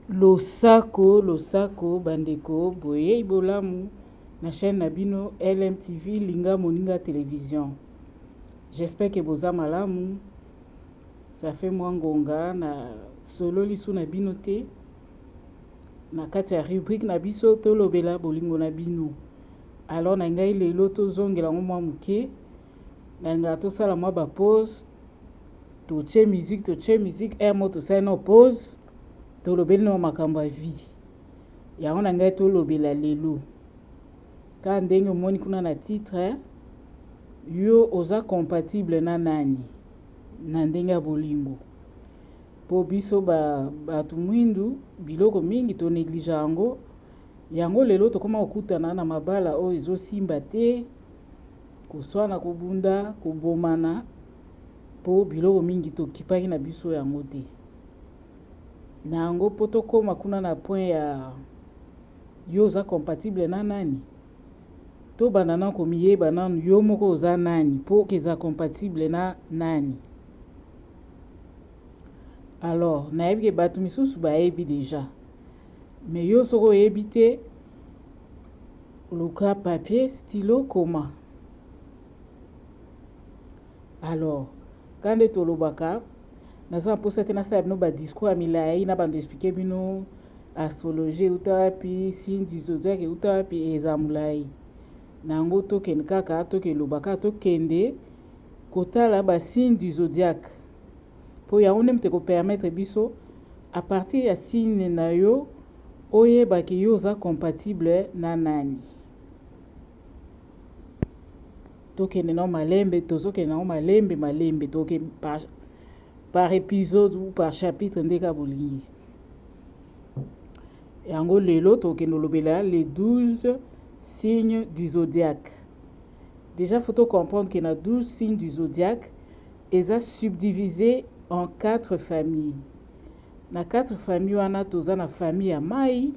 Losako losako bandeko boyei bolamu na chaîne na bino LMTV linga moninga television. J'espère que boza malamu. Ça fait mwa ngonga na sololi su na bino te. Na kati ya rubrique na biso tolobela bolingo na bino. Alors na ngai lelo tozongela ngo mwa moke. nalingaka tosala mwa bapose totie musique totie musique ere mo tosali no pose tolobeli no makambo ya vie yango na ngai tolobela lelo kaka ndenge omoni kuna na titre yo oza compatible na nani na ndenge ya bolingo mpo biso bato ba mwindu biloko mingi toneglige yango yango lelo tokoma kokutana na mabala oyo ezosimba te Koswana, kobunda, kobomana po biloko mingi tokipaki na biso yango te. Na yango po tokoma kuna na point ya yo oza compatible na nani? Tobanda nanu komiyeba nanu yo moko oza nani po okezala compatible na nani? Alors nayebi ke bato misusu bayebi deja. Mais yo soki oyebi te luka papier stylo koma alors ka nde tolobaka naza na mposa te nasala bino badiscours ya milai na bando explike bino astrologie euta wapi sindi zodiak euta wapi eza molai na yango tokende kaka tokeloba kaka tokende kotala basine du zodiaque Po yango nde moto eko permettre biso à partir ya signe na yo oyeba ke yo oza compatible na nani. Tokende nao malembe, tozokende nango malembe malembe toke par, par episode ou par chapitre nde ka bolingi. yango lelo tokende olobela les 12 signes du zodiaque déjà faut tocomprendre ke na 12 signes du zodiaque Eza subdivise en quatre familles. Na quatre familles wana toza na famille ya mayi,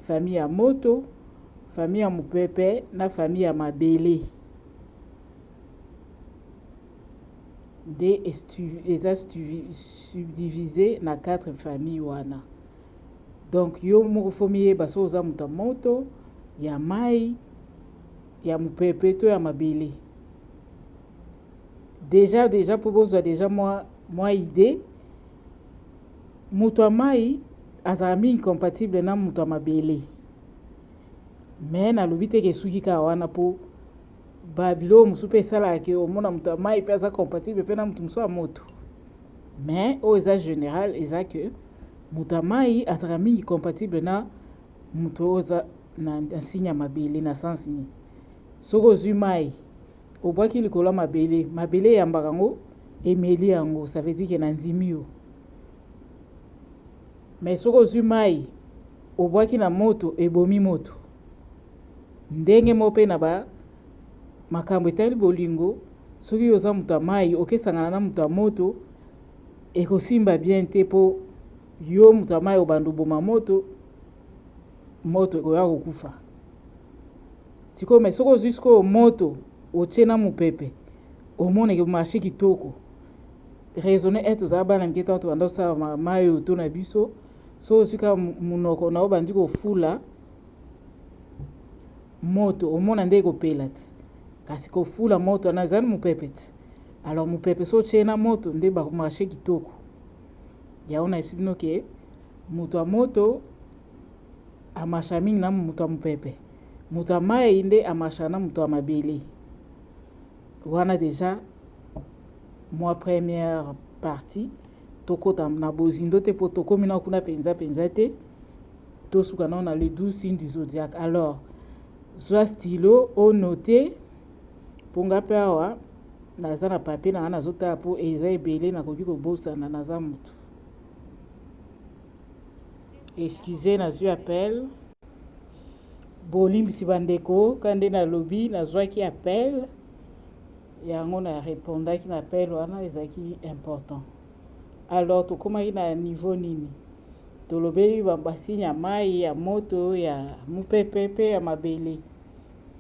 famille ya moto, famille ya mupepe na famille ya mabele. Nde eza subdivise na quatre familles wana. Donc yo moko fo miyeba so oza moto ya moto, ya mayi, ya mupepe to ya mabele. deja deja mpo bozwa deja mwa, mwa idee moto ya mai azalaka mingi compatible na moto ya mabele me nalobi te kesuki kaka wana mpo babiloko mosusu mpe esalaka ke omona moto ya mai mpe aza compatible mpe na moto mosusu ya moto me oyo eza général eza ke moto ya mai azalaka mingi compatible na moto oyo aza na nsinya mabele na sens nini soki ozwi mai Obwaki likolo ya mabele, mabele eyambaka yango, emeli yango, ça veut dire que nandimi yo. Mais soki ozwi mai, obwaki na moto, ebomi moto. Ndenge moko mpe na ba makambo etali bolingo, soki yo oza moto ya mai, okesangana na moto ya moto, ekosimba bien te mpo yo moto ya mai obanda oboma moto, moto ekoya kokufa. sikoyo mai soki ozwi sikoyo moto otie na mopepe omoneke marché kitoko raisonne ete ozala bana mike ntango tobanda kosala mai oto na biso so ozwi kaka monoko na obandi kofula moto omona nde ekopela ti kasi kofula moto wana ezali mopepe ti alors mopepe so otie na moto nde bamarché kitoko yango na esi bino ke moto ya moto Amarchaka mingi na moto ya mopepe. Moto ya mai nde amarchaka na moto ya mabele. Wana deja mwa première partie tokota na bozindo te mpo tokomi na kuna mpenza mpenza te tosuka nao na le 12 signe du zodiaque alors zwa stylo onote mpo nga mpe awa naza na papie na nga nazotala mpo eza ebele nakoki kobosana naza motu Excusez nazwi appel. Bolimbisi bandeko kaka nde nalobi nazwaki appel yango na repondaki na appel wana ezalaki important. Alors tokomaki na niveau nini? Tolobeli basigne ya mai ya moto ya mopepe mpe ya mabele.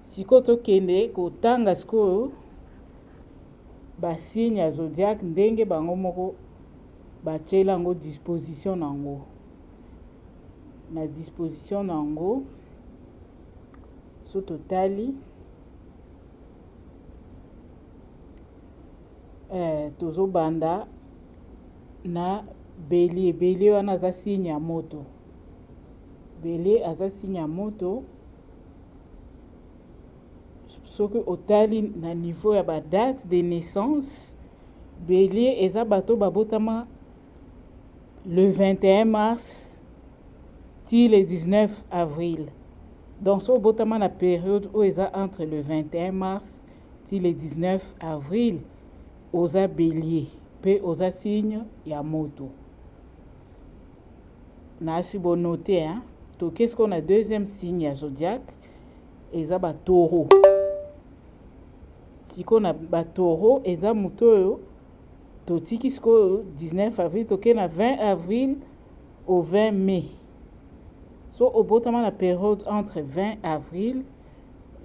Sikoyo tokende kotanga sikoyo basigne ya zodiaque ndenge bango moko Batieli yango disposition na yango na disposition na yango so totali eh, tozobanda na belie belie wana aza signe ya moto belie aza signe ya moto soki otali na niveau ya badate de naissance Belier eza bato oyo babotama le 21 mars ti le 19 avril. Donc so obotama na periode oyo eza entre le 21 mars ti le 19 avril oza belier mpe oza signe ya moto. Nasi bonote hein. Tokesi ko na deuxième signe ya zodiaque eza ba taureau sikoyo na ba taureau eza moto oyo totiki sikoyo 19 avril tokei na 20 avril au 20 mai so obotama na periode entre 20 avril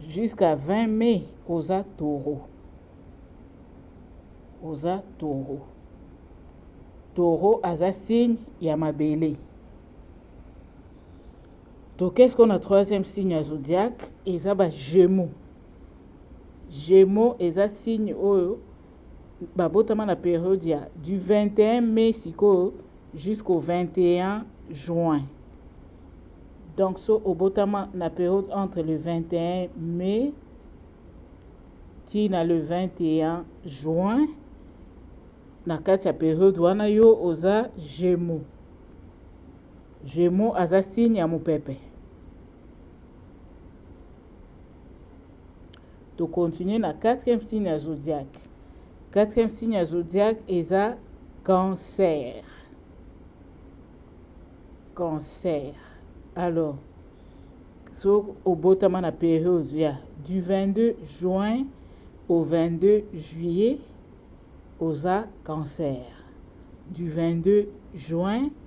jusqu'à 20 mai oza taureau oza taureau taureau aza signe ya mabele toke sikoyo na troisième signe ya zodiaque eza ba gémeaux gémeaux eza signe oyo babotama na periode ya du 21 mai sikoyo jusqu'au 21 juin donc so obotama na periode entre le 21 mai ti na le 21 juin na kati ya periode wana yo oza gémeaux Gemeaux aza signe ya mupepe. To continuer na quatrième signe ya zodiaque. Quatrième signe ya zodiaque eza cancer. Cancer. Alors, so obotama na période ya du 22 juin au 22 juillet oza cancer. Du 22 juin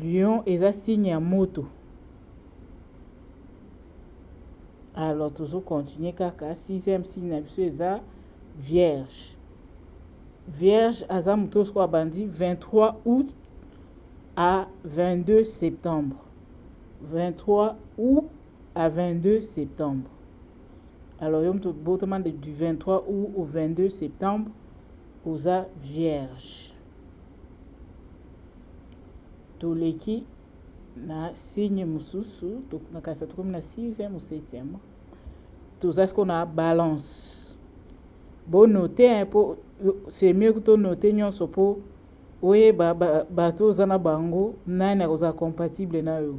Lion eza signe ya moto. Alors tozo continuer kaka sixième signe na biso eza vierge. Vierge aza moto oyo sikoyo abandi 23 août à 22 septembre. 23 août à 22 septembre. Alors yo moto botama du 23 août au 22 septembre oza vierge toleki na signe mosusu nakanisa tokomi na 6e ou 7e toza siko na balance bonote mpo c'est mieux kuto note nyonso mpo oyeba bato oza na bango nani akozala compatible na yo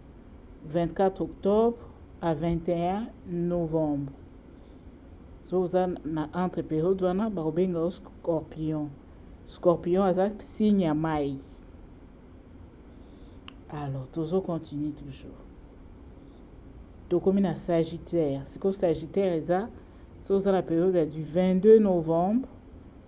24 octobre à 21 novembre so oza na entre periode wana bakobenga yo scorpion scorpion aza signe ya mai alors tozo continue toujours tokomi na sagittaire sikoyo sagittaire eza so oza na periode ya du 22 novembre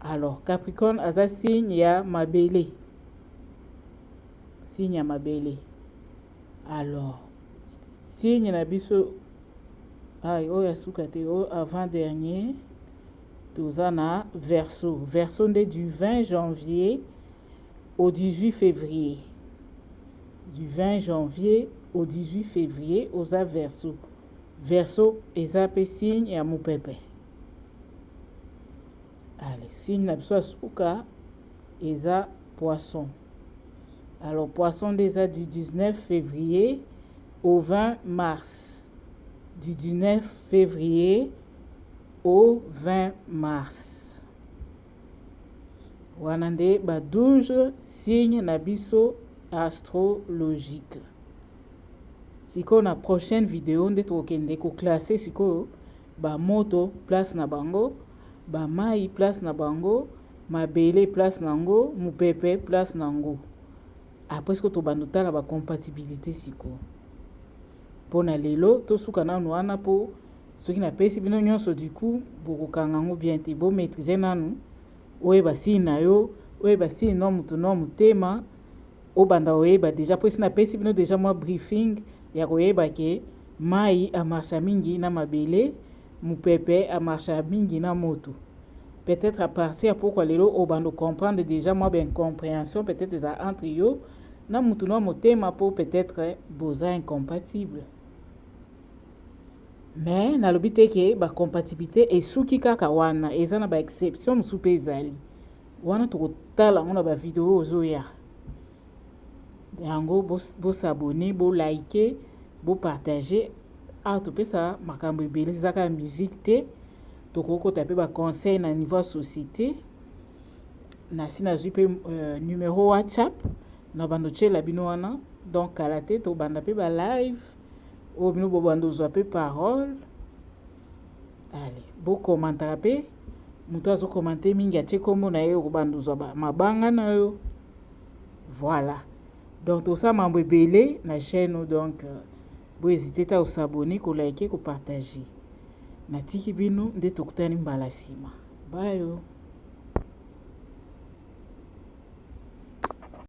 Alors Capricorne aza signe ya mabele. Signe ya mabele. Alors signe na biso ay oyo asuka te oyo avant dernier toza na verso verso nde du 20 janvier au 18 février du 20 janvier au 18 février oza verso verso eza mpe signe ya mopepe Allez, signe na biso ya suka eza poisson. Alors poisson nde eza du 19 février au 20 mars. Du 19 février au 20 mars. Wana nde ba 12 signe na biso astrologique. Sikoyo na prochaine video nde tokokende ko classer sikoyo Ba moto place na bango, ba mayi place na bango, mabele place na ngo, mupepe place na ngo. Après siko tobanda otala ba compatibilité siko. Mpo na lelo tosuka nanu wana mpo soki napesi bino nyonso du coup bokokanga yango bien te bo maîtriser nanu oyeba signe na yo oyeba signe na moto na motema Obanda koyeba deja po esi napesi bino deja mwa briefing ya koyeba ke mayi a marcha mingi na mabele, mupepe a marcha mingi na moto. Peut-etre à partir ya pokwa lelo obanda ko comprendre deja mwa ba incomprehension peut-etre eza entre yo na mutu na motema po peut-etre boza incompatible. Mais nalobi te ke ba compatibilite esuki kaka wana, eza na ba exception mosusu pe ezali. wana tokotala yango na bavideo ozoya yango bosabone bo bolaike bopartage awa topesa makambo ebele ezaka ya musike te tokokota mpe baconseil na niveau ya société nasi nazwi mpe euh, numero whatsapp na bando tyela bino wana donc kala te tobanda mpe balive oyo bino bobanda ozwa mpe parole Allez, bo commentaka pe moto azo commente mingi atie kombo na ye okobanda ozwa mabanga na yo voilà donc tosala mambo ebele na chaîne oyo donc euh, bo hésite ta kosabone kolike kopartage natiki bino nde tokutani mbala nsima bayo